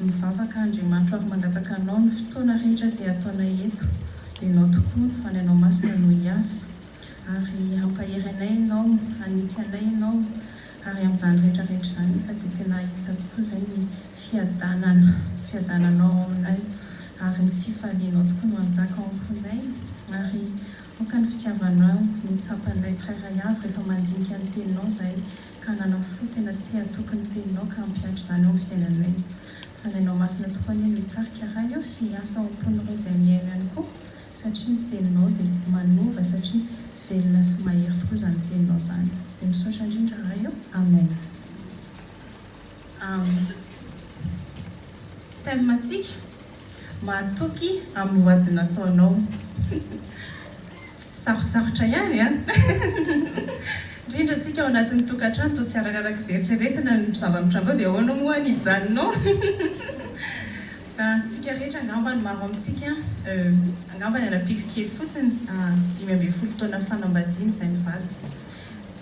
Mivavaka Andriamanitro ary mangataka Anao ny fotoana rehetra izay ataonay eto, dia Ianao tokoa no Fanahinao Masina no hiasa, ary hampahery anay Ianao, hanitsy anay Ianao, ary amin'izany rehetra rehetra izany anefa dia tena hahita tokoa izay ny fiadanana, fiadananao ao aminay, ary ny fifalianao tokoa no hanjaka ao am-ponay, ary aoka ny fitiavanao no hitsapa anay tsirairay avy rehefa mandinika ny Teninao izahay, ka nanao fo tena te hatoky ny teninao ka hampiantra izany ao amin'ny fiainany hoe, fa ny anao masina tokoa anie no hitarika raha eo sy hiasa ao am-pon'ireo izay mihaino ihany koa satria ny teninao dia manova satria velona sy mahery tokoa izany teninao izany dia misaotra indrindra raha eo amen am thème ntsika. Mahatoky amin'ny voady nataonao. Sarotsarotra ihany an! Indrindra tsika ao anatin'ny tokantrano toa tsy arakaraka izay eritreretina ny zava-mitranga ao dia ahoana moa ny hijanonao? Tsika rehetra angamba ny maro amintsika angamba niala-piko kely fotsiny dimy ambin'ny folo taona fanambadiana izay nivady.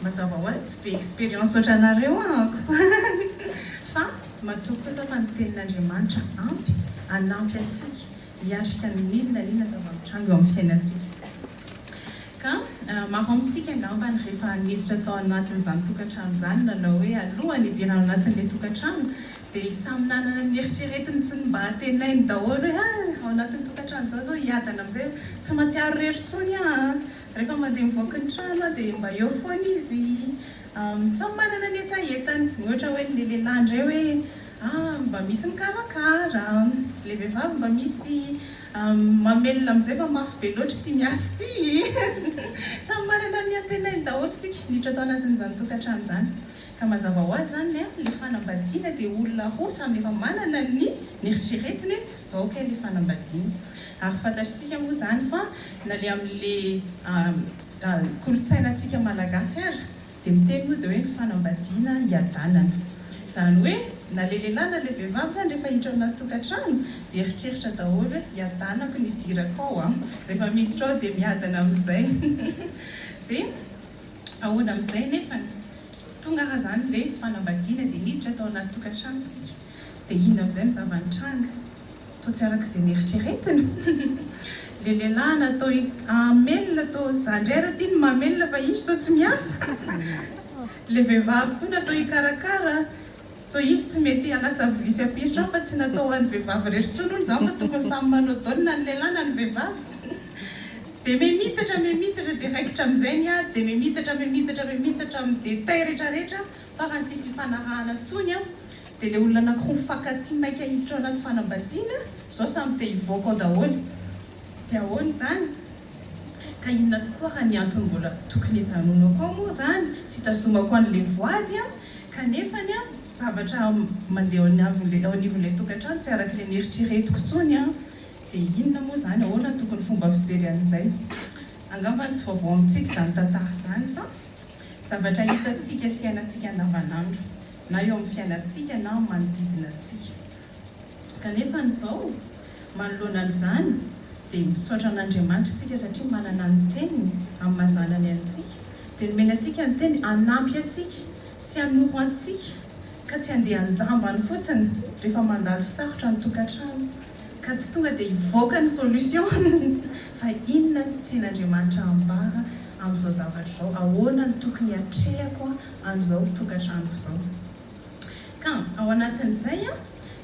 Mazava ho azy tsy be expérience ohatranareo aho fa matoky kosa fa ny tenin'Andriamanitra ampy hanampy antsika hiatrika ny n'inona n'inona zava-mitranga eo amin'ny fiainantsika. Ka maro amintsika angambany rehefa niditra tao anatin'izany tokantrano izany nanao hoe alohan'ny hidirana ao anatin'ilay tokantrano dia samy nanana ny neritreretiny sy ny mba hatenainy daholo hoe ah ao anatin'ny tokantrano izao zao hiadana amin'izay aho, tsy mahatsiaro irery intsony aho an! Rehefa mandeha mivoaka ny trano aho dia mba eo foana izy samy manana ny hetahetany, ny ohatra hoe ilay lehilahy indray hoe an mba misy mikarakara, ilay vehivavy mba misy mamelona amin'izay fa mafy be loatra ity miasa ity e! Samy manana ny antenainy daholo tsika miditra tao anatin'izany tokantrano izany. Ka mazava ho azy izany le le fanambadiana dia olona roa samy efa manana ny neritreretiny hoe zao kay le fanambadiana. Ary fantatritsika moa izany fa na le amin le kolontsaina tsika malagasy ary dia miteny moa dia hoe ny fanambadiana hiadanana. Izany hoe na le lehilahy na le vehivavy izany rehefa hiditra ao anaty tokantrano dia eritreritra daholo hoe hiadanako ny hidirako ao a. Rehefa miditra ao dia miadana amin'izay. Dia. Ahoana amin'izay nefa ny tonga ary izany ve fanambadiana dia miditra tao anaty tokantrano tsika dia inona amin'izay ny zava-nitranga? Toa tsy araka izay neritreretina? Ilay lehilahy natao hamelona toa za indray ary aty no mamelona fa izy toa tsy miasa? Ilay vehivavy koa natao hikarakara Toa izy tsy mety hanasa vilia sy apiritra aho fa tsy natao ho an'ny vehivavy irery intsony hono izany fa tokony samy manao dol na ny lehilahy na ny vehivavy. Dia mimitatra mimitatra dia raikitra amin'izay ny ady dia mimitatra mimitatra mimitatra amin'ny détails rehetra rehetra farany tsisy ifanarahana intsony an! Dia ilay olona anankiroa mifankatia maika hiditra ao anaty fanambadiana izao samy te hivoaka ao daholo. Dia ahoana izany? Ka inona tokoa ary ny antony mbola tokony hijanonako ao moa izany sy hitazomako an'ilay voady an? Kanefa ny zavatra mandeha eo anivon'ilay tokantrano tsy araka ilay neritreretiko intsony an! Dia inona moa izany? Ahoana no tokony fomba fijery an'izay? Angamba tsy vaovao amintsika izany tantara izany fa zavatra hitantsika sy iainantsika andavanandro na eo amin'ny fiainantsika na amin'ny manodidina antsika. Kanefa ny zao? Manoloana an'izany dia misaotra an'Andriamanitra isika satria manana ny teniny amin'ny maha zanany antsika. Dia nomeny antsika ny teny hanampy antsika sy hanoro antsika ka tsy handeha an-jambany fotsiny rehefa mandalo sarotra ny tokantrano ka tsy tonga dia hivoaka ny solution fa inona no tian'Andriamanitra hambara amin'izao zavatra izao, ahoana no tokony hatrehako an'izao tokantranoko izao. Ka ao anatin'izay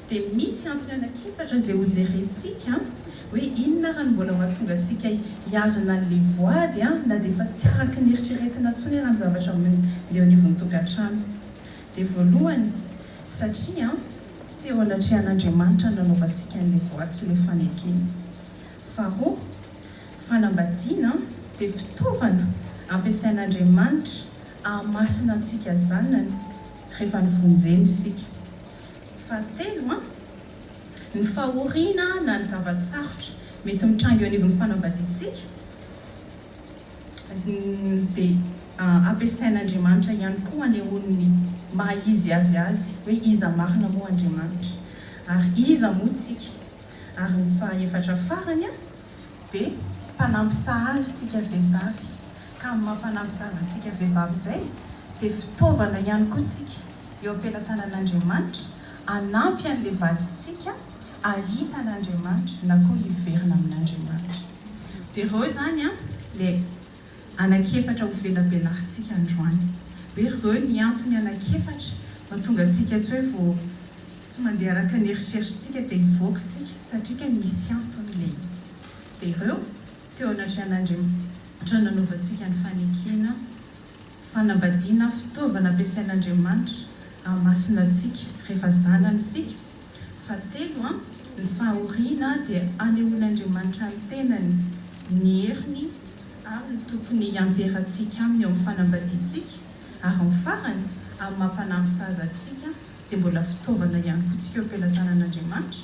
dia misy antony anankiefatra izay hojerentsika hoe inona ary no mbola mahatonga antsika hihazona an'ilay voady na dia efa tsy araka ny eritreretina intsony ary ny zavatra eo anivon'ny tokantrano. Dia voalohany, satria teo anatrehan'Andriamanitra no nanaovantsika an'ilay voady sy ilay fanekena. Faharoa, fanambadiana dia fitaovana ampiasain'Andriamanitra Ahamasina antsika zanany rehefa nivonjena isika. Fahatelo an! Ny fahoriana na ny zava-tsarotra mety mitranga eo anivon'ny fanambadiantsika dia ampiasain'Andriamanitra ihany koa hanehoany ny maha izy azy azy hoe iza marina moa Andriamanitra ary iza moa tsika. Ary ny fahaefatra farany an! Dia. Mpanampy sahaza isika vehivavy. Ka ny mampanampy zaza antsika vehivavy izay dia fitaovana ihany koa tsika eo am-pelatanana Andriamanitra hanampy an'ilay vadintsika ahita an'Andriamanitra na koa hiverina amin'Andriamanitra. Dia ireo izany ilay anak'efatra ho velabelarintsika androany. Hoe ireo ny antony anak'efatra mahatonga antsika tsy hoe vao tsy mandeha araka ny eritreritrintsika dia hivoaka isika satria kay misy antony ilay izy. Dia ireo. Teo anatrehan'Andriamtra nanaovantsika ny fanekena, fanambadiana, fitaovana ampiasain'Andriamanitra hahamasina antsika rehefa zanany isika. Fahatelo, ny fahoriana dia anehoan'Andriamanitra ny tenany, ny heriny ary ny tokony hianteherantsika aminy eo amin'ny fanambadiantsika. Ary ny farany, amin'ny maha mpanampy sahaza antsika, dia mbola fitaovana ihany koa tsika eo am-pelatanan'Andriamanitra.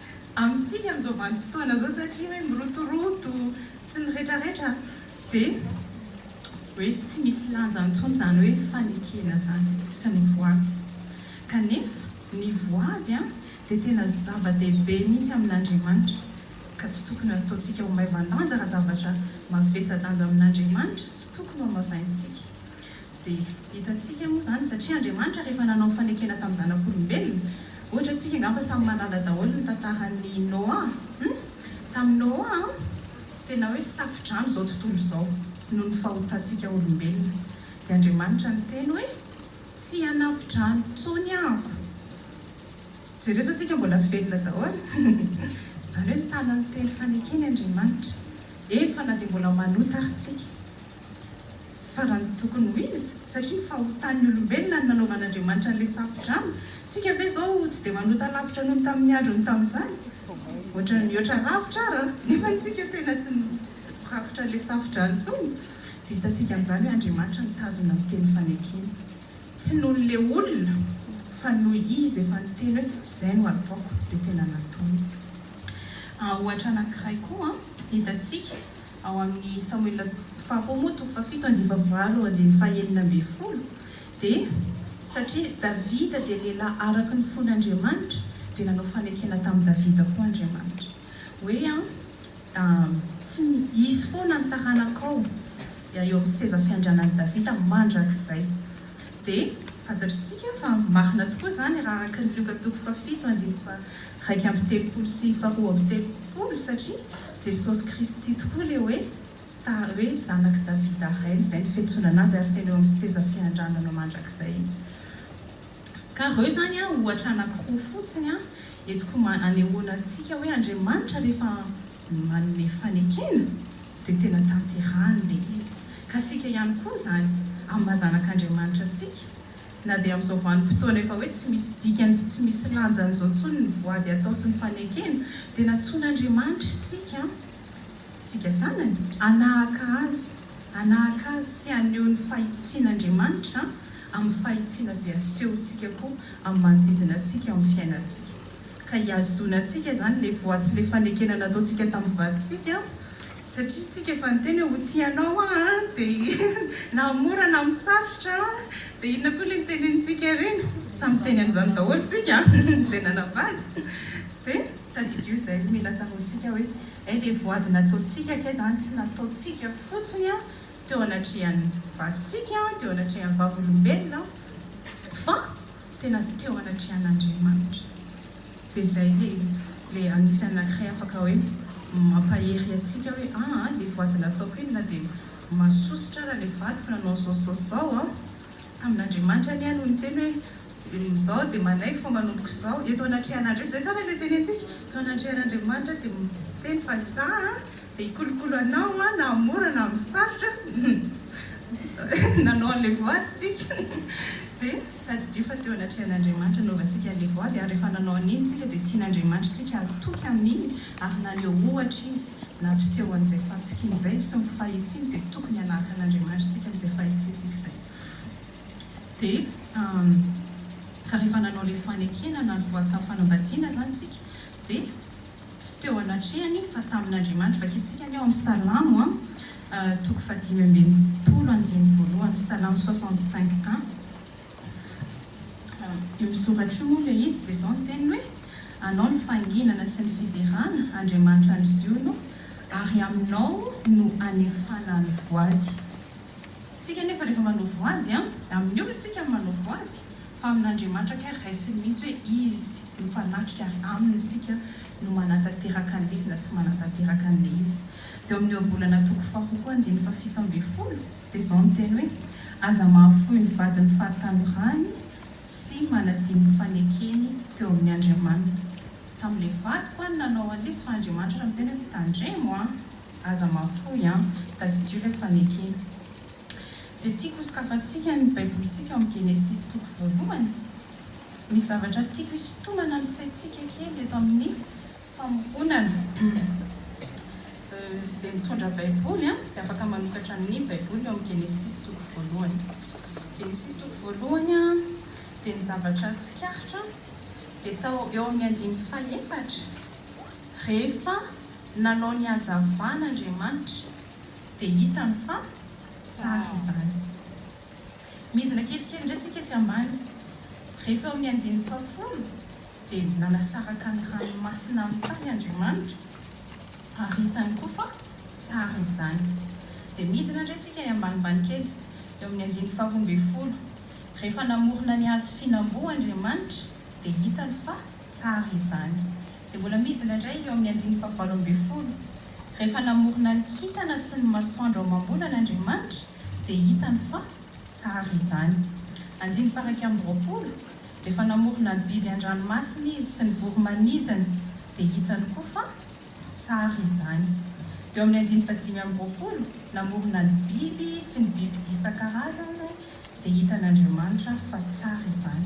Amintsika amin'izao vanim-potoana izao satria hoe mirotoroto sy ny retraretra dia hoe tsy misy lanja intsony izany hoe fanekena izany sy ny voady. Kanefa ny voady dia tena zava-dehibe mihitsy amin'Andriamanitra ka tsy tokony hataontsika ho maivan-danja raha zavatra mavesa-danja amin'Andriamanitra tsy tokony ho hamavaintsika. Dia hitantsika moa izany, satria Andriamanitra rehefa nanao fanekena tamin'ny zanak'olombelona, ohatra antsika angamba samy manala daholo ny tantaran'i Noa hum! tamin'i Noa an! tena hoe safodrano izao tontolo izao noho ny fahotantsika olombelona, dia Andriamanitra niteny hoe tsy hanafo-drano intsony aho, jereo izao tsika mbola velona daholo izany hoe mitana ny teny fanekeny Andriamanitra, eny fa na dia mbola manota ary tsika. Farany tokony ho izy, satria fahotan'ny olombelona ny nanaovan'Andriamanitra an'ilay safo-drano. Tsika ve izao tsy dia manota lavitra noho ny tamin'ny androny tamin'izany? Ohatran'ny mihoatra lavitra ara, nefa ny tsika tena tsy mirakotra an'ilay safo-drano intsony. Dia hitantsika amin'izany hoe Andriamanitra nitazona ny teny fanekena. Tsy noho ilay olona, fa noho Izy efa niteny hoe, Izay no hataoko, dia tena nataony. Ohatra anankiray koa hitantsika. Ao amin'ny Samoela faharoa moa toko fahafito andiva valo andininy fahenina ambin'ny folo dia, Satria Davida dia lehilahy araka ny fon'Andriamanitra dia nanao fanekena tamin'i Davida koa Andriamanitra hoe tsy hisy foana ny taranakao eo amin'ny seza fiandrianan'i Davida mandrakizay. Dia fantatritsika fa marina tokoa izany raha araka ny Lioka toko fahafito andininy faharaika amby telopolo sy faharoa amby telopolo satria, Jesosy Kristy tokoa le hoe ta hoe zanak'i Davida Rainy izay ny fiantsonana azy ary tena eo amin'ny seza fiandranana mandrakizay izy ka reo zany a ohatra anakiroa fotsiny a entiko ma anehoana antsika hoe Andriamanitra rehefa manome fanekena dia tena tanterahany le izy ka isika ihany koa zany amin'ny maha zanak'Andriamanitra antsika Na dia amin'izao vanim-potoana efa hoe tsy misy dikany sy tsy misy lanjany izao intsony ny voady atao sy ny fanekena, dia nantsoin'Andriamanitra isika, isika zanany, hanahaka Azy, hanahaka Azy sy haneho ny fahitsian'Andriamanitra amin'ny fahitsiana izay asehontsika koa amin'ny manodidina antsika amin'ny fiainantsika. Ka hihazonantsika izany ilay voady sy ilay fanekena nataontsika tamin'ny vadintsika. Satria tsika efa niteny hoe ho tia anao aho a dia na am mora na am sarotra a dia inona koa le nitenin tsika ireny? Samy miteny an'izany daholo tsika izay nanambady dia tadidio izay no mila tsaroantsika hoe eh le voady nataontsika kay zany tsy nataontsika fotsiny a teo anatrehan'ny vadintsika, teo anatrehan'ny vavolombelona fa. tena teo anatrehan'Andriamanitra dia izay le le anisany anakiray afaka hoe mampahery antsika hoe aa le voady nataoko iny na dia masosotra ara le vadiko nanao zao sy zao sy zao a tamin'Andriamanitra anie no niteny hoe izaho dia manaiky fa manomboka izao eto anatrehan'Andriamanitra izay zany le tenenintsika teo anatrehan'Andriamanitra dia miteny fa izaho a Dia hikolokolo anao an, na amin'ny mora na amin'ny sarotra an! Nanao an'ilay voady isika, dia tadidio fa teo anatrehan'Andriamanitra hanaovantsika an'ilay voady, ary rehefa nanao an'iny isika dia tian'Andriamanitra isika hatoky amin'iny, ary naneho ohatra Izy, nampiseho an'izay fahatokiany izay sy ny fahitsiany, dia tokony hanahaka an'Andriamanitra isika amin'izay fahitsiantsika izay. Dia ka rehefa nanao ilay fanekena na ny voady tamin'ny fanambadiana izany isika, dia. Tsy teo anatrehany fa tamin'Andriamanitra. Vakintsika ny ao amin'ny Salamo a, toko fahadimy amby enimpolo, andininy voalohany, Salamo 65 un. Io misoratra io moa ilay izy dia izao ny teniny hoe, Anao no fahanginana sy ny fiderana, Andriamanitra any Ziona o, ary aminao no anefana ny voady. Tsika anefa rehefa manao voady an! Amin'ny olona tsika no manao voady fa amin'Andriamanitra kay raisiny mihitsy hoe Izy no mpanatrika ary aminy tsika no manatanteraka an'le izy na tsy manatanteraka an'le izy. Teo amin'ny ohabolana toko faharoa koa andininy fahafito ambin'ny folo dia izao ny teny hoe Aza mahafoy ny vadiny fahatanorany sy manadino ny fanekeny teo amin'ny Andriamaniny. Tamin'le vadiko an nanao an'le izy fa Andriamanitra ary miteny hoe mitandremo an! Aza mahafoy an! Tadidio ilay fanekena. Dia tiako hosokafantsika ny Baibolintsika ao amin'ny Genesisy toko voalohany. Misy zavatra tiako hisintomana ny saintsika kely eto amin'ny famoronana. Izay mitondra Baiboly dia afaka manokatra ny Baiboly ao amin'ny Genesisy toko voalohany. Genesisy toko voalohany dia ny zavatra tsikaritra dia tao eo amin'ny andininy fahefatra rehefa Nanao ny hazavana Andriamanitra dia hitany fa tsara izany. Midina kelikely indray tsika etsy ambany. Rehefa eo amin'ny andininy fahafolo dia nanasaraka ny ranomasina amin'ny tany Andriamanitra ary hitany koa fa tsara izany. Dia midina indray tsika ambanimbany kely eo amin'ny andininy faharoa ambin'ny folo. Rehefa namorona ny hazo fihinam-boa Andriamanitra dia hitany fa tsara izany. dia mbola midina indray ny eo amin'ny andininy fahavalo ambin'ny folo, Rehefa namorona ny kintana sy ny masoandro ao amam-bolana Andriamanitra, dia hitany fa tsara izany. Andininy faharaika amby roapolo, Rehefa namorona ny biby an-dranomasina Izy sy ny voro-manidina, dia hitany koa fa tsara izany. Eo amin'ny andininy fahadimy amby roapolo, Namorona ny biby sy ny bibidia isan-karazany, dia hitan'Andriamanitra fa tsara izany.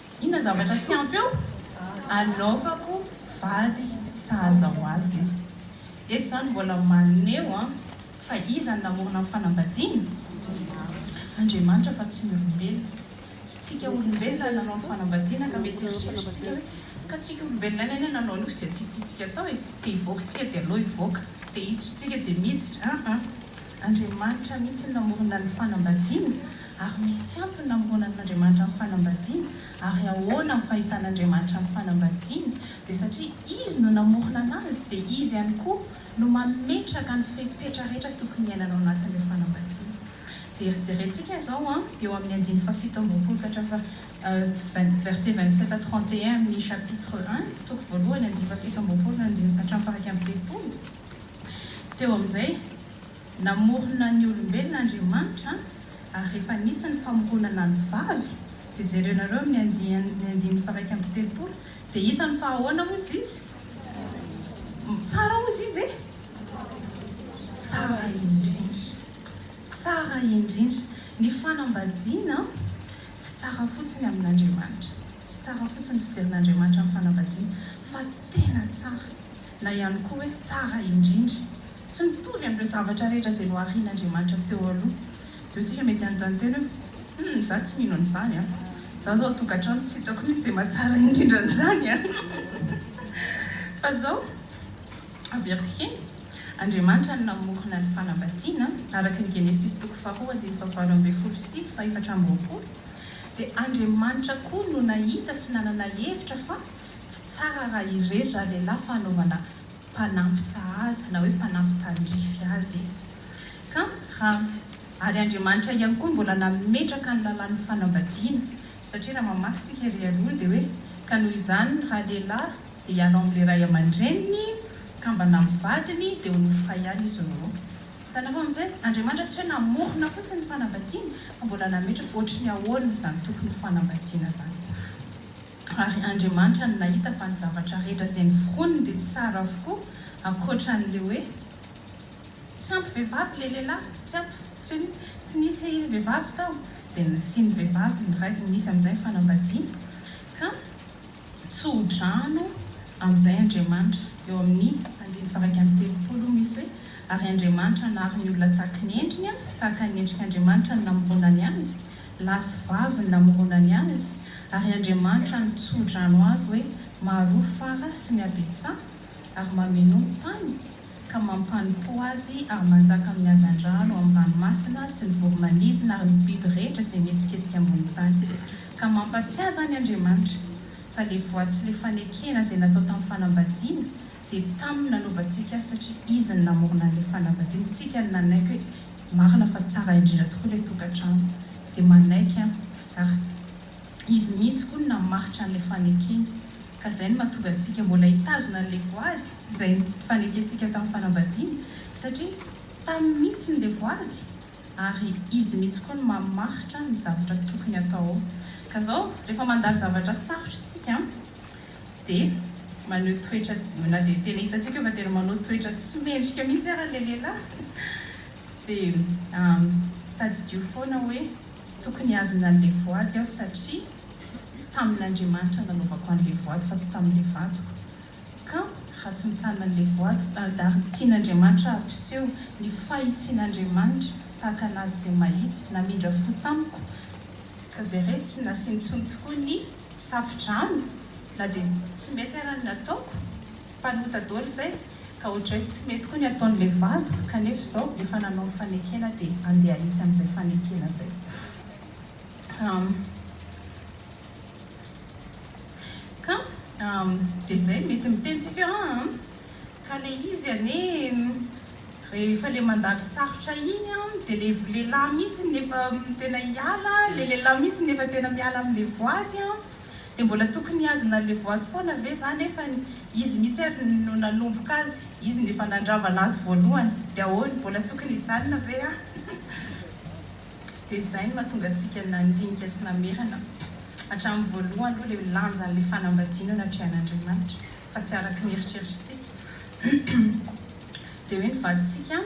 Inona zavatra tsy ampy eo? Anaovako vady sahaza ho azy izy. Eto izany mbola maneho fa iza no namorona ny fanambadiana? Andriamanitra fa tsy ny olombelona. Tsy tsika olombelona no nanao ny fanambadiana ka mety heritreretintsika hoe, ka tsika olombelona ihany anie nanao an'io sy izay tiatiantsika atao e! Te hivoaka tsika dia aleo hivoaka, te hiditra tsika dia miditra, aa. Andriamanitra mihitsy no namorona ny fanambadiana, ary misy antony namoronany Andriamanitra ny fanambadiana, ary ahoana ny fahitana Andriamanitra ny fanambadiana? Dia satria Izy no namorona anazy, dia Izy ihany koa no mametraka ny fepetra rehetra tokony hiainana ao anatin'ilay fanambadiana. Dia herijerentsika izao an, eo amin'ny andininy fahafito amby roapolo ka hatrafa vingt, verset vingt sept à trente et un amin'ny chapitre un, toko voalohany, andininy fahafito amby roapolo hatramin'ny faha iraika amby telopolo, Teo amin'izay, namorona ny olombelona Andriamanitra, ary rehefa nisy ny famoronana ny vavy, dia jereo nareo amin'ny andiany ny andininy faharaika amby telopolo, dia hitany fa ahoana hozy izy? Tsara hozy izy e? Tsara indrindra! Tsara indrindra! Ny fanambadiana tsy tsara fotsiny amin'Andriamanitra, tsy tsara fotsiny ny fijerin'Andriamanitra ny fanambadiana, fa tena tsara. na ihany koa hoe tsara indrindra. Tsy mitovy amin'ireo zavatra rehetra izay noharian'Andriamanitra teo aloha. Dia isika mety hanontany tena hoe, Humm, izaho tsy mino an'izany an! Izaho izao ao an-tokantrano tsy hitako mihitsy izay mahatsara indrindra an'izany an! Fa izao, averiko kely, Andriamanitra no namorona ny fanambadiana, araka ny Genesisy toko faharoa andininy fahavalo ambin'ny folo sy fahefatra amby roapolo, dia Andriamanitra koa no nahita sy nanana hevitra fa Tsy tsara raha irery ralehilahy fa anaovana mpanampy sahaza na hoe mpanampy tandrify azy izy. Ka raha, ary Andriamanitra ihany koa mbola nametraka ny lalàn'ny fanambadiana, satria raha mamaky tsika ery aloha dia hoe, ka noho izany ny ralehilahy dia hialao amin'ilay ray aman-dreniny, kambana amin'ny vadiny, dia ho nofy iray izy roa. Hitanareo amin'izay? Andriamanitra tsy hoe namorona fotsiny ny fanambadiana, fa mbola nametraka ohatry ny ahoana izany tokony ho fanambadiana izany. Ary Andriamanitra no nahita fa ny zavatra rehetra izay noforoniny dia tsara avokoa, ankoatran'ilay hoe, Tsy ampy vehivavy ilay lehilahy, tsy ampy, tsy hoe, tsy nisy vehivavy tao, dia nasian'ny vehivavy ny raikiny, nisy amin'izay ny fanambadiana, ka tsodrano amin'izay Andriamanitra. Eo amin'ny andininy faha-iraika amby telopolo misy hoe, Ary Andriamanitra nahary ny olona tahaka ny endriny, tahaka ny endrik'Andriamanitra no namoronany azy, lahy sy vavy ny namorona ny azy, ary Andriamanitra no tso-drano azy hoe maharoa fara sy mihabetsaha, ary mamenoa ny tany, ka mampanipoa azy ary manjaka amin'ny hazandrano, amin'ny ranomasina sy ny voromanidina ary ny biby rehetra izay mihetsiketsika ambony tany, ka mampatsiahy izany Andriamanitra fa le voa tsy le fanekena izay natao tamin'ny fanambadiana, Dia taminy nanovantsika satria izy no namorona an'ilay fanambadiana, tsika no nanaiky hoe marina fa tsara indrindra tokoa ilay tokantrano dia manaiky an! ary izy mihitsy koa no namaritra an'ilay fanekeny ka izay no mahatonga antsika mbola hitazona an'ilay voady izay nifanekentsika tamin'ny fanambadiana satria taminy mihitsy no ilay voady ary izy mihitsy koa no mamaritra ny zavatra tokony hatao ao ka izao rehefa mandalo zavatra sarotra isika Dia maneho toetra, na dia tena hitantsika fa tena manao toetra tsy mendrika mihitsy ary ilay lehilahy dia tadidio foana hoe tokony hazona an'ilay voady aho satria tamin'Andriamanitra nanaovako an'ilay voady fa tsy tamin'ilay vadiko ka raha tsy mitana an'ilay voady ary tian'Andriamanitra hampiseho ny fahitsian'Andriamanitra tahaka an'azy izay mahitsy namindra fo tamiko ka jereo tsy nasiany intsony tokoa ny Safo-drano na dia ny tsy mety ara ny nataoko, mpanota dolo izay ka ohatray tsy mety koa ny ataon'ilay vadiko kanefa izao efa nanao ny fanekena dia andeha ahitsy amin'izay fanekena izay aho ka dia izay mety miteny tsika an! Ka le izy anie rehefa le mandalo sarotra iny an de le lehilahy mihitsy no efa tena hiala, le lehilahy mihitsy no efa tena miala amle voady an, de mbola tokony hihazona anle voady foana ve za nefa izy mihitsy ary no nanomboka azy, izy no efa nandrava anazy voalohany de ahoana mbola tokony hijanona ve an de izay no mahatonga antsika nandinika sy namerina hatraminy voalohany aloha le lanja anle fanambadiana natrehan'Andriamanitra. fa tsy araka ny eritreritritsika dia hoe ny vadintsika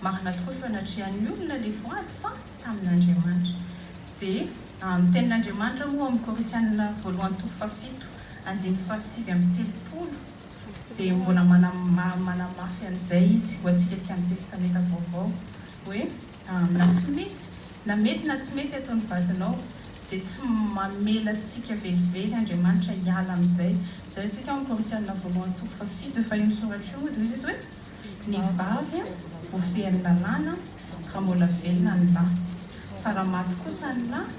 marina tokoa feo natrehan'ny olona ilay voady fa tamin'Andriamanitra dia ny tenin'Andriamanitra moa ao amin'ny Korintiana voalohany toko fahafito andininy fahasivy amby telopolo dia mbola manamafy an'izay izy ho antsika aty amin'ny testamenta vaovao hoe Na tsy mety, na mety na tsy mety eto ny vadinao dia tsy mamela antsika velively Andriamanitra hiala amin'izay. Jereo tsika ao amin'ny Korintianina voalohany toko faha fito, efa io ny soratra io moa dia hoy izy hoe ny vavy voafehin'ny lalàna raha mbola velona ny lahy, fa raha maty kosa ny lahy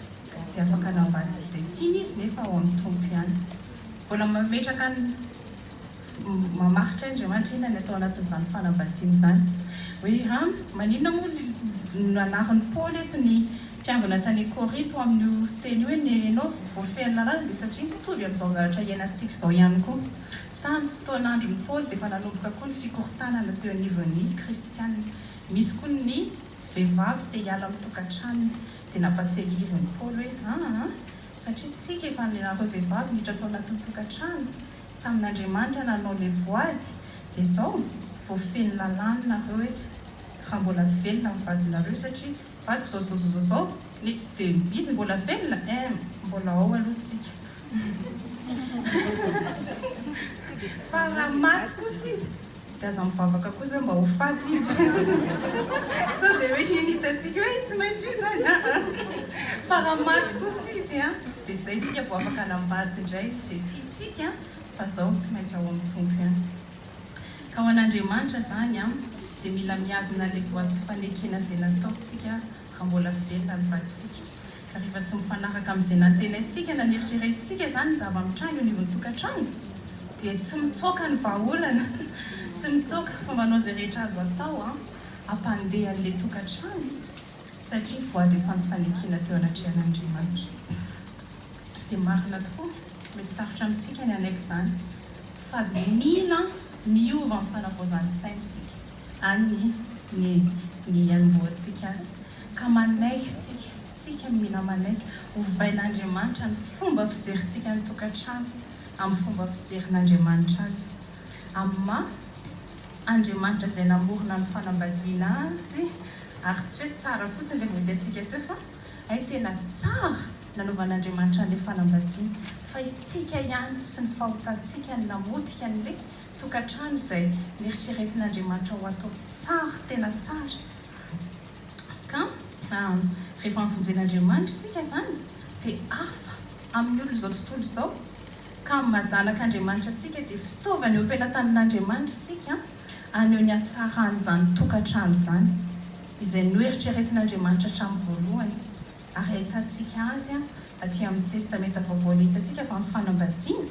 dia afaka navadika izay tiany izy nefa ao amin'ny Tompo ihany. Mbola mametraka ny. Mamaritra Andriamanitra inona ny atao anatin'izany fanambadiana izany? Hoe an, maninona moa ny nanarin'i Paoly eto ny mpiangona tany Korinto ho amin'io teny io hoe ny ianao voafehin'ny lalàna dia satria mitovy amin'izao zavatra iainantsika izao ihany koa. Tamin'ny fotoan'andron'i Paoly dia efa nanomboka koa ny fikorontanana teo anivon'ny kristiana. Misy koa ny vehivavy te hiala amin'ny tokantranony dia nampatsiahivin'i Paoly hoe an an, satria tsika efa ny anareo vehivavy miditra tao anatin'ny tokantrano, tamin'Andriamanitra nanao ilay voady dia zao vao feno lalàny nareo hoe raha mbola velona ny vadinareo satria vadiko zao zao zao zao ny dia izy mbola velona eeh mbola ao aloha tsika fa raha maty kosa izy Dia aza mivavaka koa zay mba ho faty izy sao dia hoe iny hitantsika hoe tsy maintsy io izany aa fa raha maty kosa izy an dia izay tsika vao afaka hanambady indray izay tiantsika an fa zao tsy maintsy ao amin'ny Tompo ihany ka ho an'Andriamanitra izany an dia mila mihazona ilay voa tsy fanekena izay nataontsika raha mbola velona ny vadintsika Rehefa tsy mifanaraka amin'izay nantenaintsika na neritreretintsika izany ny zava-mitranga eo anivon'ny tokantrano, dia tsy mitsoaka ny vahaolana, tsy mitsoaka fa manao izay rehetra azo atao hampandeha an'ilay tokantrano, satria voady efa ny fanekena teo anatrehan'Andriamanitra. Dia marina tokoa, mety sarotra amintsika ny hanaiky izany, fa mila miova amin'ny fanavaozan'ny saina isika. Any ny ny ihanombohantsika Azy, ka manaiky tsika, tsika no mila manaiky, ovain'Andriamanitra ny fomba fijerintsika ny tokantrano amin'ny fomba fijerin'Andriamanitra azy, amin'ny maha Andriamanitra izay namorona ny fanambadiana Azy, ary tsy hoe tsara fotsiny ilay voahitantsika teo fa hay tena tsara nanaovan'Andriamanitra an'ilay fanambadiana, fa isika ihany sy ny fahotantsika no namotika an'ilay tokantrano izay neritreretin'Andriamanitra ho atao tsara, tena tsara. Ka rehefa mivonjen'Andriamanitra isika izany dia hafa amin'ny olon'izao tontolo izao. Ka ny maha zanak'Andriamanitra antsika dia fitaovana eo am-pelatanan'Andriamanitra isika haneho ny hatsaran'izany tokantrano izany, izay noeritreretin'Andriamanitra hatramin'ny voalohany ary ahitantsika azy aty amin'ny Testamenta Vaovao. Ilay hitantsika fa amin'ny fanambadiana.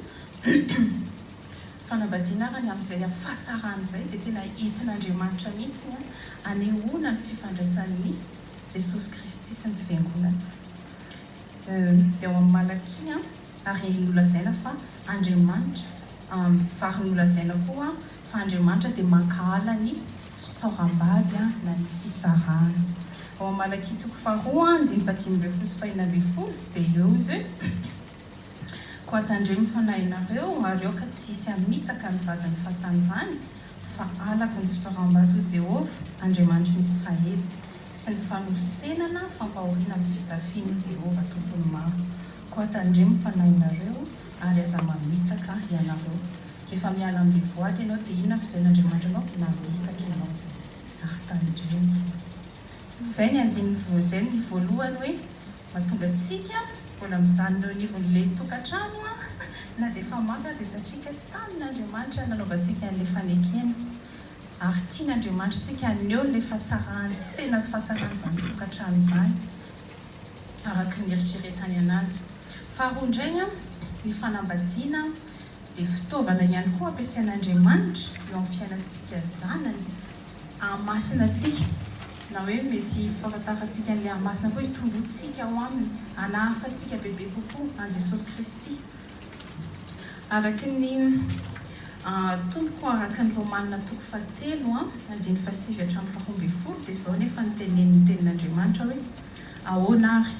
Fanambadiana arany amin'izay hafatsarany izay dia tena entin'Andriamanitra mihitsy ny hanehoana ny fifandraisan'i Jesosy Kristy sy ny Fiangonana. Dia ao amin'ny Malakia ary nolazaina fa Andriamanitra ary nolazaina koa fa Andriamanitra dia mankahala ny fisaoram-bady na ny fisarahana. Ao amin'ny Malakia toko faharoa andininy fahadimy ambin'ny folo sy fahenina ambin'ny folo dia eo izy hoe. Koa tandremo fanahinareo ary aoka tsy hisy hamitaka ny vadin'ny fahatanimbany, fa halako ny fisaoram-bady ho Jehovah, Andriamanitry ny Israely, sy ny fanosenana fampahoriana avy fitafiany ho Jehovah, Tompon'ny maro. Koa tandremo fanahinareo ary aza mamitaka ianareo. Rehefa miala am-bevoady ianao, dia inona no fijeren'Andriamanitra anao? Mamitaka ianao izay, ary tandremo izay. Izay ny andininy, izay ny voalohany hoe. Mahatonga antsika mbola mijanona eo anivon'ilay tokantrano na dia efa mafy aza izay satria tamin'Andriamanitra nanaovantsika an'ilay fanekena ary tian'Andriamanitra antsika haneho ilay fahatsarany tena fahatsarany izany tokantrano izany araka ny eritreretany anazy. Faharoa indray ny fanambadiana. dia fitaovana ihany koa ampiasain'Andriamanitra eo amin'ny fiainantsika zanany hahamasina antsika, na hoe mety ho fahafantarantsika an'ilay hahamasina koa hitomboantsika ao aminy, hanahafa antsika bebe kokoa an'i Jesosy Kristy. Araka ny Tompoko, araka ny Romanina toko fahatelo andininy fahasivy hatramin'ny faharoa ambin'ny folo dia izao anefa no tenenin'ny Tenin'Andriamanitra hoe, Ahoana ary?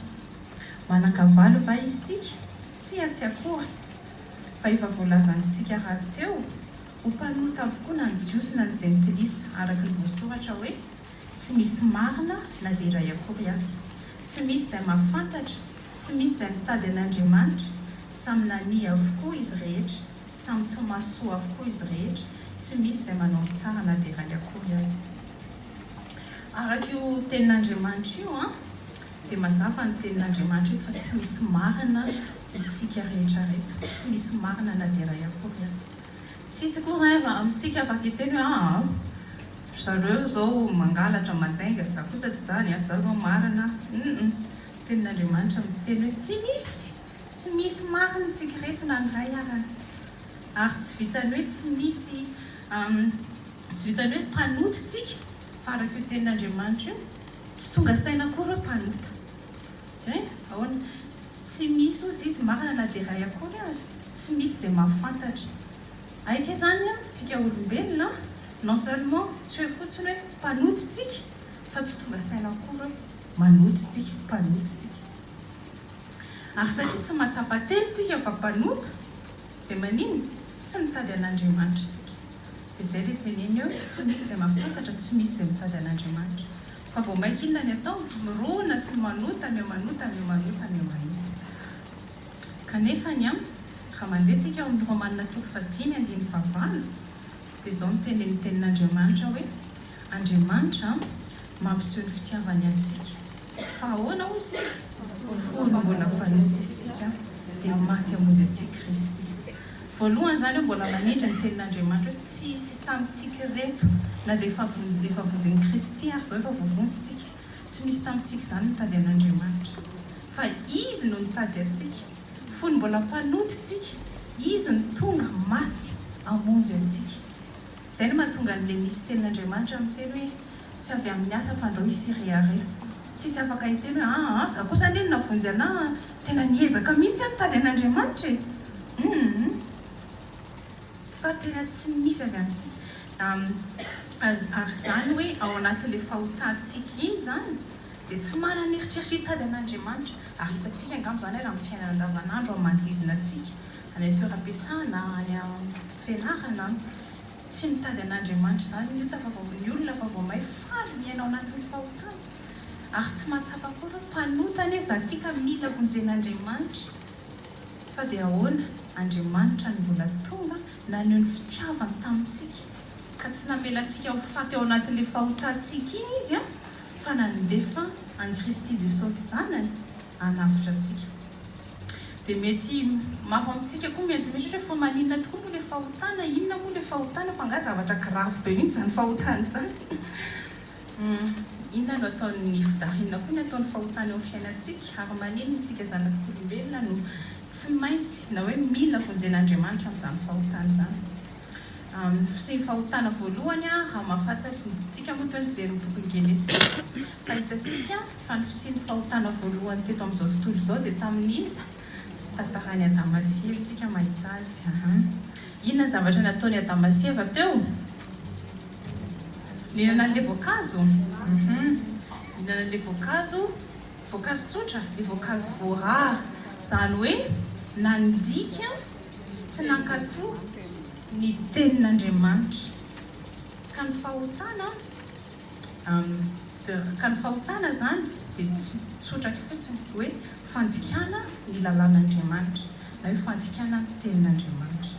Manan-kavalo va isika? Tsia, tsy akory! fa efa voalazantsika rahateo ho mpanota avokoa na ny Jiosy na ny Jentilisa, araka ny voasoratra hoe, Tsy misy marina na dia iray akory aza. Tsy misy izay mahafantatra, tsy misy izay mitady an'Andriamanitra, samy nania avokoa izy rehetra, samy tsy mahazo soa avokoa izy rehetra, tsy misy izay manao ny tsara na dia iray akory aza. Araka io tenin'Andriamanitra io, dia mazava ny tenin'Andriamanitra eto fa tsy misy marina Antsika rehetra reto, tsy misy marina na dia iray akory aza. Tsisy koa raiva amintsika afa hiteny hoe aa ry zareo zao mangalatra mandainga, za kosa tsy zany a, za zao marina hum tenin'Andriamanitra miteny hoe tsy misy, tsy misy marina tsika reto na ny iray ara, ary tsy vitan'ny hoe tsy misy tsy vitan'ny hoe mpanota tsika fa araka io tenin'Andriamanitra io tsy tonga saina akory hoe mpanota, eh ahoana? Tsy misy ozy izy marina na dia iray akory ary, tsy misy izay mahafantatra. Aika izany an, tsika olombelona an, non seulement tsy hoe fotsiny hoe mpanota tsika fa tsy tonga saina akory hoe manota tsika, mpanota tsika. Ary satria tsy mahatsapa teny tsika fa mpanota dia manino? Tsy mitady an'Andriamanitra tsika. Dia izay ilay teneny eo, tsy misy izay mahafantatra, tsy misy izay mitady an'Andriamanitra. Fa vao maika inona ny atao? Mirona sy manota mihamanota mihamanota mihamanota. Kanefa ny an, raha mandeha tsika ao amin'ny Romanina toko fahadimy andininy fahavalo dia izao no tenenin'ny tenin'Andriamanitra hoe, Andriamanitra an, mampiseho ny fitiavany antsika. Fa ahoana hozy izy? Fony mbola mpanota isika dia maty hamonjy antsika Kristy. Voalohany izany aho mbola manindry ny tenin'Andriamanitra hoe tsy hisy tamintsika ireto na dia efa vonjy efa vonjin'i Kristy ary izao efa voavonjy isika, tsy misy tamintsika izany mitady an'Andriamanitra. Fa Izy no nitady antsika, fony mbola mpanota isika, Izy no tonga, maty, hamonjy antsika. Izay no mahatonga an'i Lemisy tenin'Andriamanitra miteny hoe tsy avy amin'ny asa fandao i Syria re. Tsisy afaka hiteny hoe aa za kosa anie no navonjy anah an, Tena niezaka mihitsy aho nitady an'Andriamanitra e! Humm! Fa tena tsy misy avy aty na ary izany hoe ao anatin'ilay fahotantsika iny izany dia tsy manana eritreritra hitady an'Andriamanitra ary hitantsika angamba izany ary amin'ny fiainana andavanandro amin'ny manodidina antsika any an-toeram-piasana, any am-pianarana, tsy mitady an'Andriamanitra izany ny ota fa vao ny olona fa vao may faly miaina ao anatin'ny fahotana. ary tsy mahatsapa akory hoe mpanota anie za ty ka mila vonjen'Andriamanitra fa dia ahoana Andriamanitra no mbola tonga naneho ny fitiavany tamintsika ka tsy namela antsika ho faty ao anatin'le fahotantsika iny izy an fa nandefa an'i Kristy Jesosy zanany hanavotra antsika dia mety maro amintsika koa mety mieritreritra hoe fa maninona tokoa moa le fahotana inona moa le fahotana fa nga zavatra grave be mintsy zany fahotana zany. Humm inona no ataon'ny fda, inona koa ny ataon'ny fahotana eo amin'ny fiainantsika ary maninona isika zanak'olombelona no tsy maintsy na hoe mila vonjen'Andriamanitra amin'izany fahotana izany? Humm sy ny fahotana voalohany raha mahafantatra ny, tsika moa toa nijery ny bokin'i Genesisy fa hitantsika fa ny fisian'ny fahotana voalohany teto amin'izao tontolo izao dia tamin'iza? Tantaran'i Adama sy Eva tsika mahita azy ahaa. Inona ny zavatra nataon'i Adama sy Eva teo? Nihinana an'ilay voankazo? Hum. Nihinana an'ilay voankazo, voankazo tsotra, ilay voankazo voarara. Izany hoe nandika sy tsy nankatò ny tenin'Andriamanitra. Ka ny fahotana? Amn. Ka ny fahotana izany dia tsy tsotra fotsiny hoe fandikana ny lalàn'Andriamanitra na hoe fandikana ny tenin'Andriamanitra.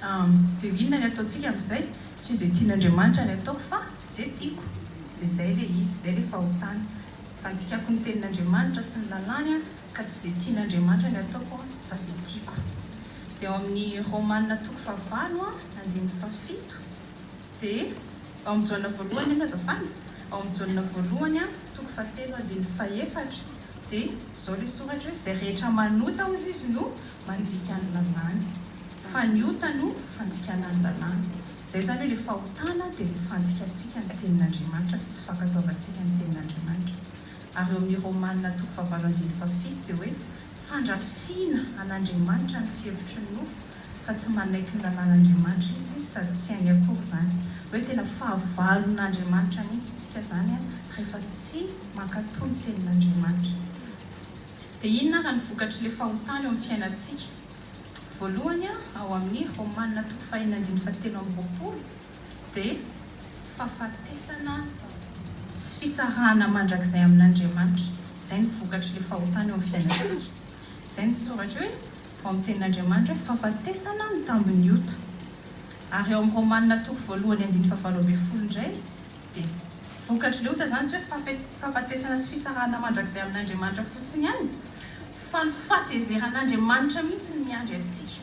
Amn. Dia inona ny ataontsika amin'izay? Tsy izay tian'Andriamanitra ny ataoko fa izay tiako. Dia izay ilay izy, izay ilay fahotana. Fandikako ny tenin'Andriamanitra sy ny lalàny aho ka tsy izay tian'Andriamanitra ny ataoko fa izay tiako. Dia ao amin'ny Romana toko fahavalo andininy fahafito. Dia ao amin'ny Jaona voalohany anie azafady, ao amin'ny Jaona voalohany toko fahatelo andininy fahefatra dia izao ilay soratra hoe izay rehetra manota hozy izy no mandika ny lalàny fa ny ota no fandikana ny lalàna. Izay izany hoe ilay fahotana dia ilay fandikantsika ny tenin'Andriamanitra sy tsy fankatoavantsika ny tenin'Andriamanitra. Ary eo amin'ny Romana toko fahavalo andininy fahafito dia hoe fandrafiana an'Andriamanitra ny fihevitry ny nofo fa tsy manaiky ny lalàn'Andriamanitra izy sady tsy hainy akory izany. Hoe tena fahavalon'Andriamanitra mihitsy tsika izany rehefa tsy mankatò ny tenin'Andriamanitra. Dia inona ary ny vokatry ilay fahotana eo amin'ny fiainantsika? Voalohany, ao amin'ny Romana toko fahenina andininy fahatelo amby roapolo dia fahafatesana sy fisarahana mandrakizay amin'Andriamanitra. Izay ny vokatry ilay fahotana eo amin'ny fiainantsika. Izay ny soratra hoe. Vao amin'ny tenin'Andriamanitra hoe fahafatesana ny tambin'ny ota. Ary ao amin'ny Romana toko voalohany andininy fahavalo ambin'ny folo indray dia vokatr'ilay ota izany tsy hoe fafe, fahafatesana sy fisarahana mandrakizay amin'Andriamanitra fotsiny ihany fa ny fahatezeran'Andriamanitra mihitsy no miandry antsika.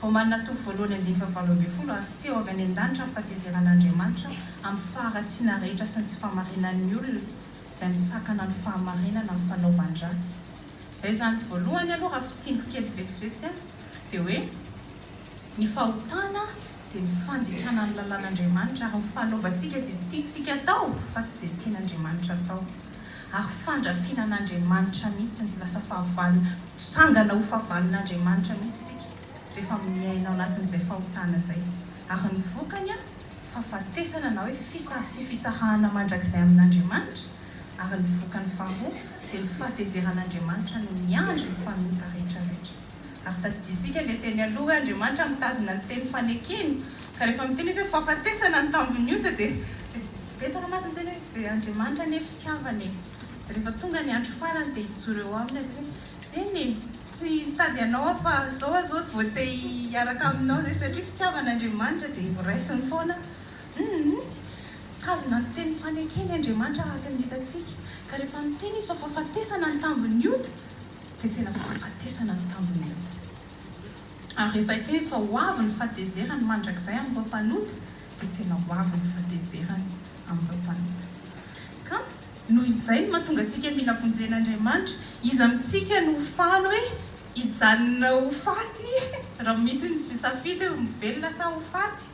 Romana toko voalohany andininy fahavalo ambin'ny folo Ary seho avy any an-danitra ny fahatezeran'Andriamanitra amin'ny faharatsiana rehetra sy ny tsy fahamarinan'ny olona izay misakana ny fahamarinana amin'ny fanaovan-dratsy. Zay zany voalohany aloha raha fintiniko kely vetivety a, dia hoe ny fahotana dia ny fandikana ny lalàn'Andriamanitra ary ny fanaovantsika izay tiantsika atao fa tsy izay tian'Andriamanitra atao ary fandrafiana an'Andriamanitra mihitsy ny lasa fahavalona, mitsangana ho fahavalon'Andriamanitra mihitsy tsika rehefa miaina ao anatin'izay fahotana zay ary ny vokany a fahafatesana na hoe fisa sy fisarahana mandrakizay amin'Andriamanitra ary ny vokany faharoa dia ny fahatezeran'Andriamanitra no miandry ny mpanota rehetrarehetra. Ary tadidintsika ilay teny aloha hoe Andriamanitra mitazona ny teny fanekeny, ka rehefa miteny izy hoe fahafatesana ny tambin'ny ota dia betsaka mantsy miteny hoe je Andriamanitra anie fitiavana e! dia rehefa tonga ny andro farany dia hijoro eo aminy ary hoe Eny e! tsy hitady anao aho fa zao aho zao voate hiaraka aminao satria fitiavan'Andriamanitra dia horaisiny foana Humm! Tazona ny teny fanekeny Andriamanitra araka ny hitantsika, ka rehefa miteny Izy fa fahafatesana ny tambin'ny ota, dia tena fahafatesana ny tambin'ny ota. Ary rehefa hiteny Izy fa ho avy ny fahatezerany mandrakizay amin'ireo mpanota, dia tena ho avy ny fahatezerany amin'ireo mpanota. Ka noho izay no mahatonga antsika mila vonjena Andriamanitra. Iza amintsika no ho faly hoe hijanona ho faty raha misy ny safidy hoe ho velona sa ho faty?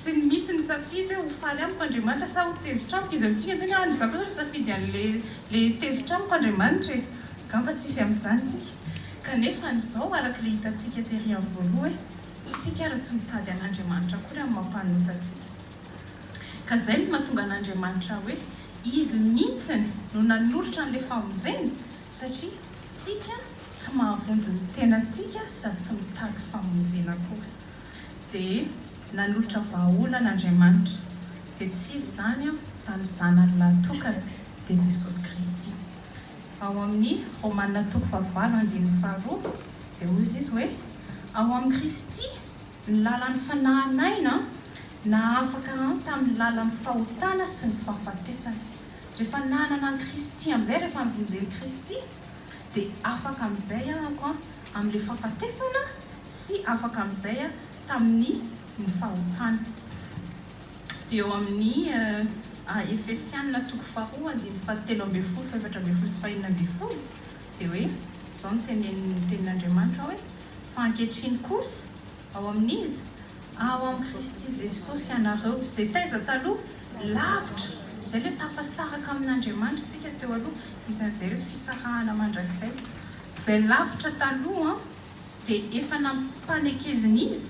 sy ny misy ny safidy hoe ho faly amiko Andriamanitra sa ho tezitra amiko izy amintsika tena any za kosa misafidy anle le tezitra amiko Andriamanitra e angamba tsisy amzany tsika kanefa anizao arakle hitantsika tery any voaloha e tsika ary tsy mitady an'Andriamanitra akory amin'ny maha mpanota antsika ka zay no mahatonga an'Andriamanitra hoe izy mintsiny no nanolotra anle famonjena satria tsika tsy mahavonjy ny tenantsika sady tsy mitady famonjena akory dia nanolotra vahaolana Andriamanitra, dia tsy iza izany fa ny Zanany lahatokany, dia Jesosy Kristy. Ao amin'ny Romana toko fahavalo andininy faharoa, dia hoy izy hoe, Ao amin'i Kristy ny lalan'ny fanahin'aina nahafaka an tamin'ny lalan'ny fahotana sy ny fahafatesana. Rehefa nanana an'i Kristy amin'izay, rehefa nivonjen'i Kristy, dia afaka amin'izay ahako an amin'ilay fahafatesana sy afaka amin'izay aho tamin'ny ny fahotana. Dia eo amin'ny Efesiana toko faharoa andininy fahatelo ambin'ny folo, fahefatra ambin'ny folo sy fahenina ambin'ny folo dia hoe izao no tenenin'ny tenin'Andriamanitra hoe fa ankehitriny kosa Ao amin'iza? Ao amin'i Kristy Jesosy ianareo, izay taiza taloha? Lavitra! Izay ilay tafasaraka amin'Andriamanitra isika teo aloha, isan'izay ireo fisarahana mandrakizay. Izay lavitra taloha dia efa nampanekezin'iza?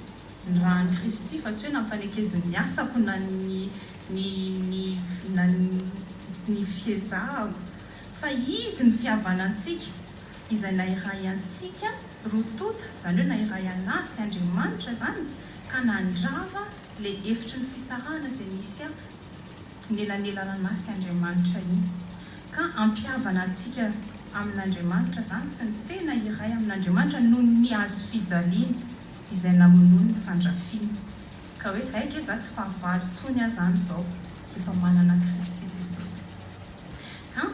Ny ran'i Kristy, fa tsy hoe nampanekezin'ny asako na ny, ny, ny, na ny, ny fiezahako. Fa izy ny fihavanantsika, izay nahiray antsika roa tonta, izany hoe nahiray an'ahy sy Andriamanitra izany, ka nandrava le efitry ny fisarahana izay nisy a nelanelaran'ahy sy Andriamanitra iny. Ka ampihavana antsika amin'Andriamanitra izany sy ny tena iray amin'Andriamanitra noho ny hazo fijaliana izay namonoany ny fandrafiana. Ka hoe hay nge za tsy fahavalo intsony aza an izao rehefa manana Kristy Jesosy. Ka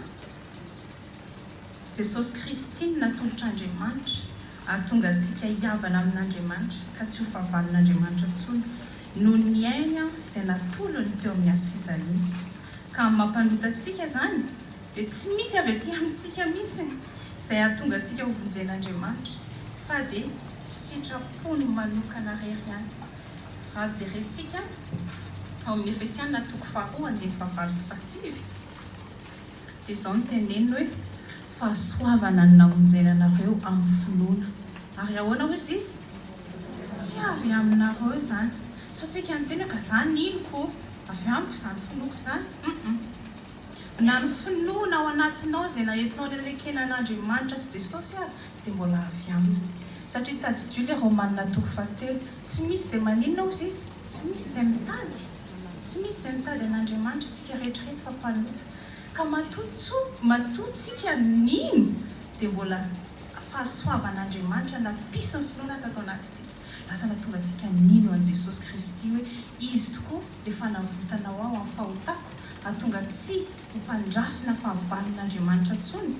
Jesosy Kristy no natolotr'Andriamanitra ary tonga antsika hihavana amin'Andriamanitra ka tsy ho fahavalon'Andriamanitra intsony noho ny ainy izay natolony teo amin'ny hazo fijaliana. Ka amin'ny maha mpanota antsika izany dia tsy misy avy aty amintsika mihitsiny izay hahatonga antsika ho vonjen'Andriamanitra fa dia sitrapony manokana rery ihany raha jerentsika ao amin'ny Efesiana toko faharoa andininy fahavalo sy fahasivy dia izao no teneniny hoe fahasoavana no namonjena anareo amin'ny finoana ary ahoana hozy izy tsy avy aminareo izany sao tsika niteny hoe ka za niniko avy amiko izany finoako izany hum Na ny finoana ao anatinao izay naetinao rerekena an'Andriamanitra sy Jesosy ary dia mbola avy Aminy. Satria tadidio ilay Romanina toko fahatelo, tsy misy izay maninona hozy izy, tsy misy izay mitady, tsy misy izay mitady an'Andriamanitra, isika rehetra ireto fa mpanota. Ka matoa tso, matoa tsika nino dia mbola fahasoavan'Andriamanitra nampisy ny finoana tato anatintsika. Lasa nahatonga antsika nino an'i Jesosy Kristy hoe Izy tokoa le fanavotana ho aho amin'ny fahotako hahatonga tsy ho mpandrafina fahavalon'Andriamanitra intsony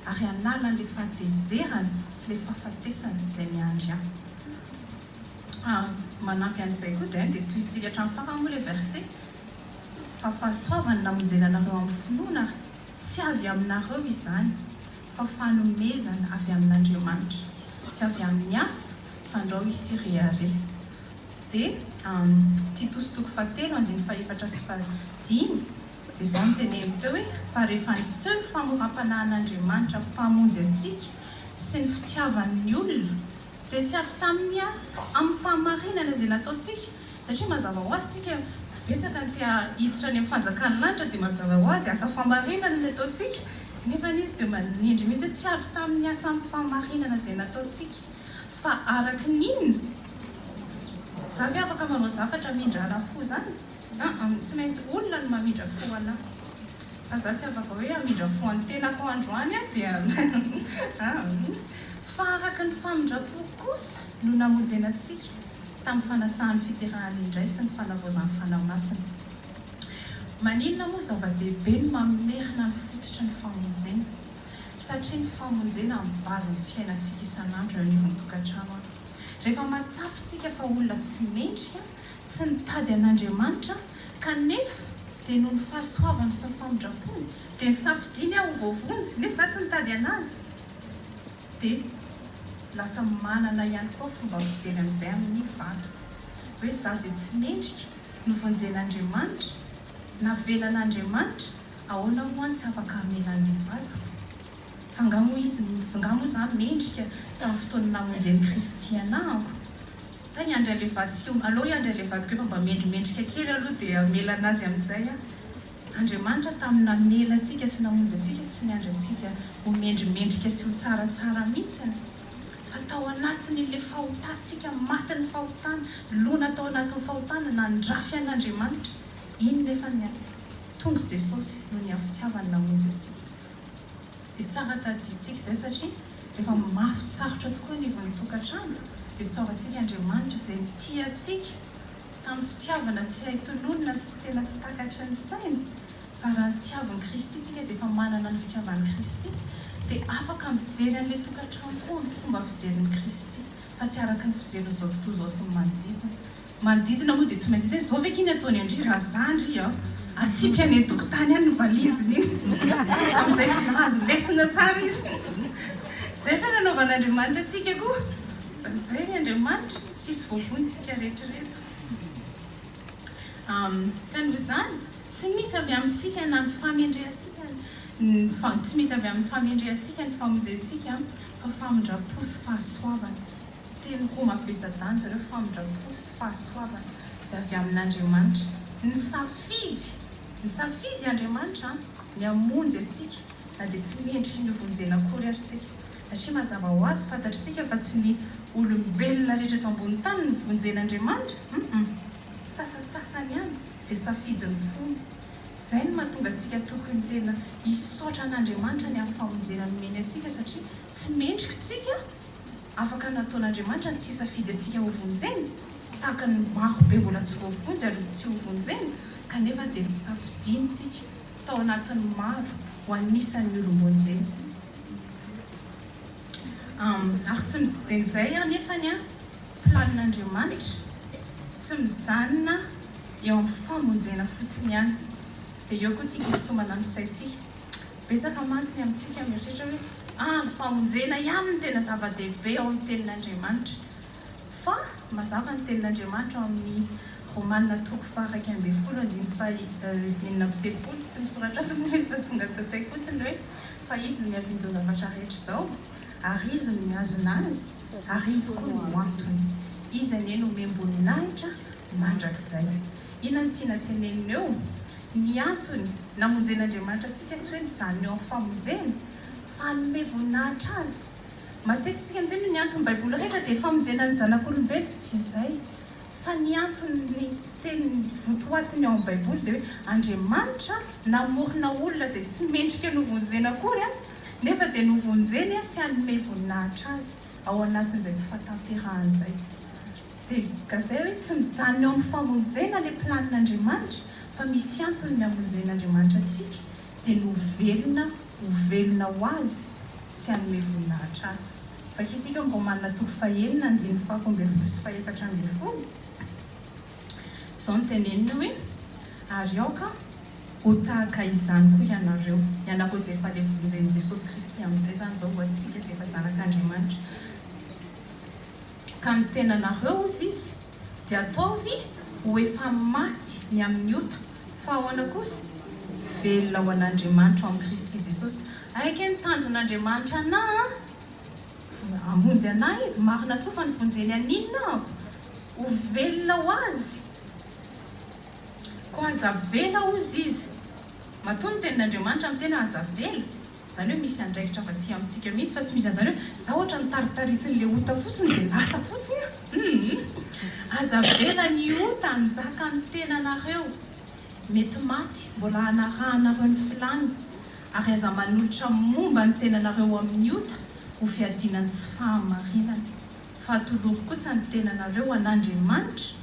ary hanala an'le fahatezerana sy le fahafatesana izay miandry ahy. Ary manampy an'izay koa dia dia tohizintsika hatramin'ny farany moa le verse fa fahasoavana namonjena anareo amin'ny finoana ary tsy avy aminareo izany fa fanomezana avy amin'Andriamanitra, tsy avy amin'ny asa, fandrao i Sireare. Dia am, Titosy toko fahatelo andininy fahefatra sy fahadimy, dia izao no teneniny teo hoe, Fa rehefa niseho ny famoram-panahin'Andriamanitra Mpamonjy antsika sy ny fitiavany ny olona, dia tsy avy tamin'ny asa, amin'ny fahamarinana izay nataontsika, Satria mazava ho azy tsika betsaka ny te hiditra any amin'ny fanjakan'ny lanitra dia mazava ho azy asa famarinana ny ataontsika nefa izy dia manindry mihitsy hoe tsy avy tamin'ny asan'ny famarinana izay nataontsika fa araky ny inona za ve afaka manao zafatra mindrana fo zany aa tsy maintsy olona no mamindra fo anah fa za tsy afaka hoe hamindra fo an'ny tenako androany aho dia aa fa araky ny famindram-po kosa no namonjena antsika tamin'ny fanasahan'ny fiterahany indray sy ny fanavaozan'ny Fanahy Masina. Maninona moa zava-dehibe ny mamerina ny fototry ny famonjena? Satria ny famonjena no base ny fiainantsika isan'andro eo anivon'ny tokantrano. Rehefa mahatsapa isika fa olona tsy mendrika, tsy nitady an'Andriamanitra, kanefa dia noho ny fahasoavany sy ny famindrampony dia nisafidiany aho ho voavonjy, nefa izaho tsy nitady an'Azy. Dia lasa manana ihany koa fomba fijery amin'izay amin'ny vato. Hoe za izay tsy mendrika no vonjen'Andriamanitra? Navelan'Andriamanitra? Ahoana moa no tsy afaka hamela an'ilay vato? Fa nga moa izy, nga moa za mendrika tamin'ny fotoana namonjen'i Kristy anahako? Sa hiandry an'ilay vato tsika ho, aleo hiandry an'ilay vato keo fa mba mendrimendrika kely aloha dia hamela anazy amin'izay aho. Andriamanitra tamin'ny namela antsika sy namonjy antsika tsy niandry antsika ho mendrimendrika sy ho tsaratsara mihitsy an! Fa tao anatin'ilay fahotantsika, matin'ny fahotana, lona tao anatin'ny fahotana, nandrafy an'Andriamanitra. Iny nefa ny an! Tonga Jesosy noho ny hafitiavany namonjy antsika. Dia tsara tadidintsika izay satria rehefa mafy sarotra tokoa ny ivon'ny tokantrano dia saorantsika Andriamanitra izay tia antsika. tamin'ny fitiavana tsy hay tononina sy tena tsy takatry ny sainy fa raha ny tiavin'i Kristy tsika dia efa manana ny fitiavan'i Kristy dia afaka mijery an'ilay tokantrano koa amin'ny fomba fijerin'i Kristy fa tsy araka ny fijerin'izao tontolo izao sy ny manodidina manodidina moa dia tsy maintsy hoe zao ve k'iny ataony an-dry raha za ndry an atsipy any an-tokotany any ny valiziny iny amin'izay mahazo lesona tsara izy izay ve nanaovan'Andriamanitra antsika koa fa izay ry Andriamanitra Tsisy voavointsika retraretra. Am, ka noho izany, tsy misy avy amintsika na ny famendrehantsika ny fa, tsy misy avy amin'ny famendrehantsika ny famonjentsika, fa famindram-po sy fahasoavana. Teny roa mavesa-danja ireo, famindram-po sy fahasoavana, izay avy amin'Andriamanitra. Nisafidy, nisafidy Andriamanitra an, ny hamonjy antsika, na dia tsy mendriky ny hovonjena akory ary tsika. Satria mazava ho azy, fantatritsika fa tsy ny olombelona rehetra eto ambony tany no vonjen'Andriamanitra, hum-hum, sasantsasany ihany izay safidin'ny fony. Izay no mahatonga antsika tokony tena hisaotra an'Andriamanitra ny amin'ny famonjena nomeny antsika satria tsy mendrika isika afaka nataon'Andriamanitra ny tsy hisafidy antsika hovonjena tahaka ny marobe mbola tsy voavonjy ary tsy hovonjena kanefa dia nosafidiantsika tao anatin'ny maro ho anisan'ny olom-bonjena. Ary tsy midika izay anefa ny planin'Andriamanitra tsy mijanona eo amin'ny famonjena fotsiny ihany. Dia eo koa ity hisintomana amin'ny saintsika. Betsaka mantsy ny amintsika mieritreritra hoe, ah, ny famonjena ihany no tena zava-dehibe ao amin'ny Tenin'Andriamanitra. Fa mazava ny Tenin'Andriamanitra ao amin'ny Romana toko faha-iraika ambin'ny folo andininy faha-enina amby telopolo. Tsy misoratra aminy ilay izy fa tonga ato an-tsaiko fotsiny ny hoe, Fa Izy no niaviany izao zavatra rehetra izao, ary Izy no mihazona azy, ary Izy koa no antony. Izy anie no omem-boninahitra mandrakizay. Inona no tiana tenenina eo? Ny antony namonjen'Andriamanitra antsika tsy hoe nijanona eo amin'ny famonjena, fa hanome voninahitra Azy. Matetika indrindra ny anton'ny Baiboly rehetra dia famonjena ny zanak'olombelona, tsy izay fa ny anton'ny teny votoatiny ao amin'ny Baiboly dia hoe Andriamanitra namorona olona izay tsy mendrika novonjena akory nefa dia novonjeny sy hanome voninahitra azy ao anatin'izay tsy fahatanterahany izay. Dia gazay hoe tsy mijanona eo amin'ny famonjena ilay planin'Andriamanitra fa misy antony ny hamonjen'Andriamanitra antsika, dia ny ho velona ho velona ho azy sy hanome voninahitra azy. Vakintsika ao Romanina toko fahenina andininy faharoa ambin'ny folo sy fahefatra ambin'ny folo. Izao no teneniny hoe, Ary aoka ho tahaka izany koa ianareo, ianareo izay efa levon'izay Jesosy Kristy amin'izay izany izao ho antsika izay efa zanak'Andriamanitra, ka ny tenanareo, hozy izy, Dia ataovy ho efa maty ny amin'ny ota, fa ahoana kosa? Velona ho an'Andriamanitra ao amin'i Kristy Jesosy. Hay ake ny tanjon'Andriamanitra anà an! Hamonjy anà Izy, marina tokoa fa nivonjeny an'inona ahako? Ho velona ho Azy. Koa aza avela hozy Izy. Matoa ny tenin'Andriamanitra amin'ny tena, aza avela. Zany hoe misy andraikitra fa tsy amintsika mihitsy fa tsy misy anzany hoe za ohatra ny taritaritiny le ota fotsiny de lasa fotsiny a humm aza avela ny ota hanjaka ny tenanareo mety maty mbola hanarahanareo ny filany ary aza manolotra momba ny tenanareo amin'ny ota ho fiadiana ny tsy fahamarinana fa atolory kosa ny tenanareo an'Andriamanitra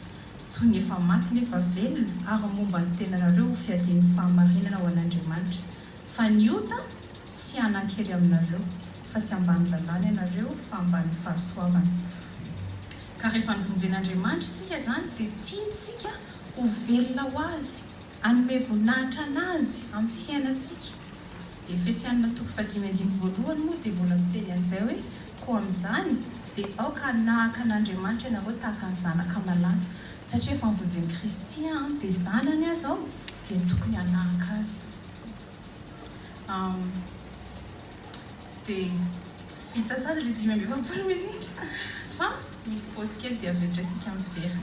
toy ny efa maty nefa velona ary momba ny tenanareo ho fiadian'ny fahamarinana ho an'Andriamanitra Fa ny ota tsy hanan-kery aminareo, fa tsy ambany lalàna ianareo, fa ambany fahasoavana. Ka rehefa novonjen'Andriamanitra isika izany, dia tiantsika ho velona ho Azy, hanome voninahitra an'Azy amin'ny fiainantsika. Efesiana toko fahadimy andiny voalohany moa dia mbola miteny an'izay hoe, Koa amin'izany, dia aoka hanahaka an'Andriamanitra ianareo tahaka ny zanaka malala. Satria efa novonjen'i Kristy aho, dia zanany aho izao. dia tokony hanahaka azy aho dia vita sady le dimy amby efapolo minitra fa misy pause kely dia avy eo indray tsika miverina.